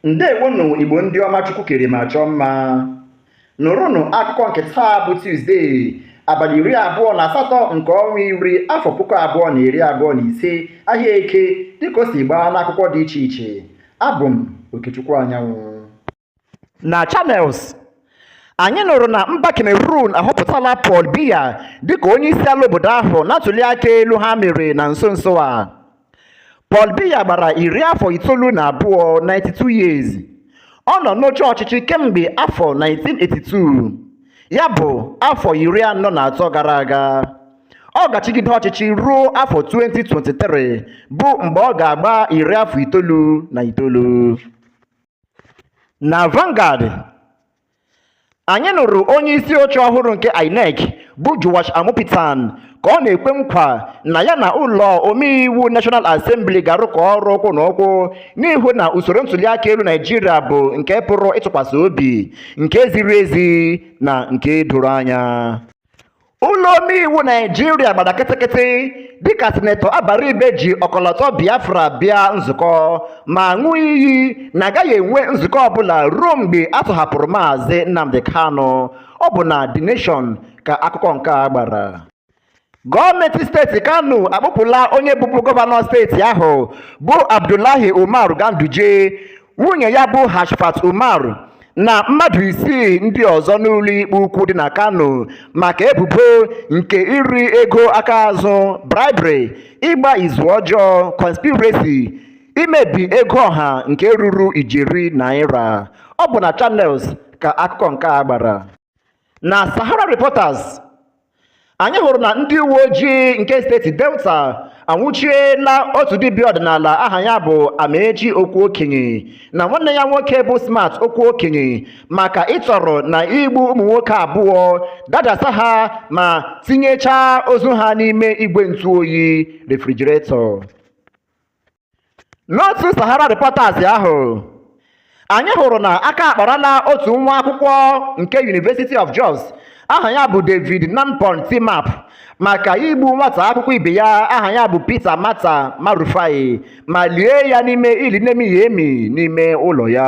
Ndewonụ Igbo ndị ọma Chukwu kere ma chọọ mma. Nụrụnụ akụkọ nke taa bụ Tuzdee, abalị iri abụọ na asatọ nke ọnwa iri afọ puku abụọ na iri abụọ na ise ahịa eke dịka o si gbaa n'akwụkwọ dị iche iche. Abụ m Okechukwu Anyanwụ. Na Channels anyị nụrụ na mba Cameroon ahọpụtala Paul Biya dịka onyeisiala obodo ahụ na ntuliaka elu ha mere na nso nso a. Paul Biya gbara iri afọ itoolu na abụọ 92 years ọ nọ n'oche ọchịchị kemgbe afọ 1982 ya bụ afọ iri anọ na atọ gara aga ọ ga-achịgide ọchịchị ruo afọ 2023 bụ mgbe ọ ga-agba iri afọ itoolu na itoolu na Vanguard anyị nụrụ onye isi oche ọhụrụ nke inec bụ Joash Amupitan ka ọ na-ekwe nkwa na ya na ụlọ omeiwu National Assembly ga-arụkọ ọrụ ụkwụ na ụkwụ n'ịhụ na usoro ntuliaka elu Naijiria bụ nke pụrụ ịtụkwasị obi nke ziri ezi na nke doro anya ụlọ omeiwu naijiria gbara kịtịkịtị dịka sinetọ abaribe ji ọkọlọtọ biafra bịa nzukọ ma ṅụọ iyi na agaghị enwe nzukọ ọbụla ruo mgbe a tọhapụrụ maazị nnamdi kanu ọ bụ na the nation ka akụkọ nke a gbara gọọmenti steeti kano akpụpụla onye bụbu gọvanọ steeti ahụ bụ abdullahi umar ganduje nwunye ya bụ Hafsat Umar na mmadụ isii ndị ọzọ n'ụlọ ikpe ukwu dị na Kano maka ebubo nke iri ego aka azụ bribery ịgba izu ọjọọ conspiracy imebi ego ọha nke ruru ijeri naira ọ bụ na Channels ka akụkọ nke a gbara na Sahara Reporters anyị hụrụ na ndị uwe ojii nke steeti delta anwụchiela otu dibịa ọdịnala aha ya bụ amaechi okwuokenye na nwanne ya nwoke bụ smart okwuokenye maka ịtọrọ na igbu ụmụ nwoke abụọ dajasa ha ma tinyechaa ozu ha n'ime igwe ntụ oyi refrigerator N'otu Sahara Reporters ahụ, anyị hụrụ na aka akparala otu nwa akwụkwọ nke University of Jos aha ya bụ David Nanpon Timap maka igbu nwata akwụkwọ ibe ya aha ya bụ Peter Mata Marufai ma lie ya n'ime ili na-emighị emi n'ime ụlọ ya.